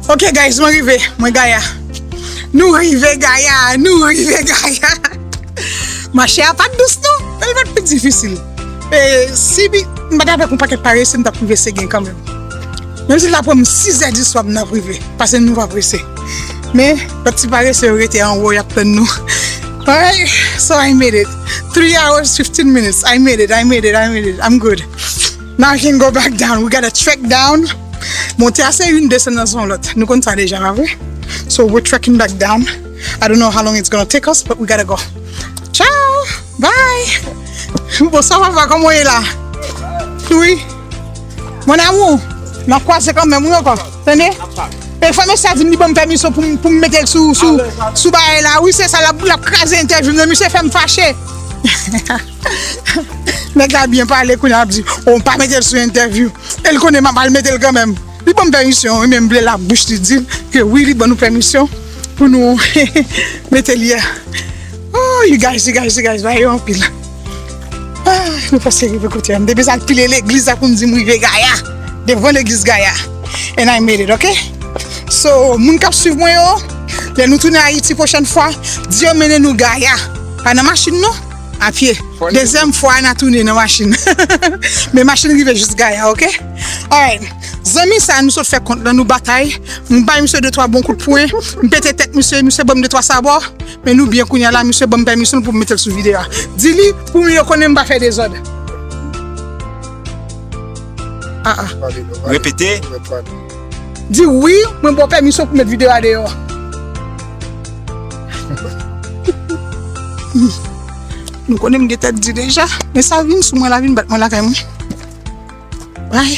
Ok guys mwen rive mwen gaya Nou rive gaya Nou rive gaya Mache a pat dous non El pat pi difisil E si bi Mwen pat avek yon paket pare se mwen tap rive se gen kanmen Menm si l tap pran m 6 è di swa mwen ap rive Pase nou pa prese Men lòt ti pare se yo rete anwo yap tann nou Ay So I made it 3 hours 15 minutes I made it I made it I made it I'm good. Marking go back down we gotta trek down monte a se youn desann nan se yon lòt nou konn sa deja pa vre so we're trekking back down I don't know how long it's gonna take us but we gotta go ciao bye bonswa papa kòman w ye la wi mon amour n ap kwaze kanmenm wi ankò tande e fanm esthie a di m li ban m pèmiso pou m pou m mete l sou sou sou bagay la wi se sa l ap l ap kraze entèvyou m nan misye fè m fache. Nèg la byen pale kounye a ap di oh m pa mete l sou entèvyou e l konnen m ap al mete l kanmenm li ban m pèmisyon wi men m vle l ak bouch li di m ke wi li ban nou pèmisyon pou nou mete l yè ooh you guys you guys you guys bagay yo anpil aah nou prèske rive kote a m te bezwen al pile legliz la pou m di m rive gaya devan legliz gaya and I made it ok so moun k ap swiv mwen yo lè nou tounen ayiti pwochèn fwa di yo mennen nou gaya pa nan machin non. A pye. Dezyèm fwa na tounen nan machin. Men machin rive jis gaya ok. Alright. Zanmi sa nou sot fè kont lan nou batay. M bay misye de twa bon kout pwen. M pete tèt misye. Misye banm de twa sabò. Men nou byen kounya la misye banm pèmisyon pou m metel sou video a. Di li pou m yo konnen m pa fè dezòd. Aa. Repete. Di wi, mwen ba w pèmisyon pou met videyo a deyò. Nou konnen m gen tèt di deja, men sa vin sou mwen la vin bat mwen lakay mwen. Bay.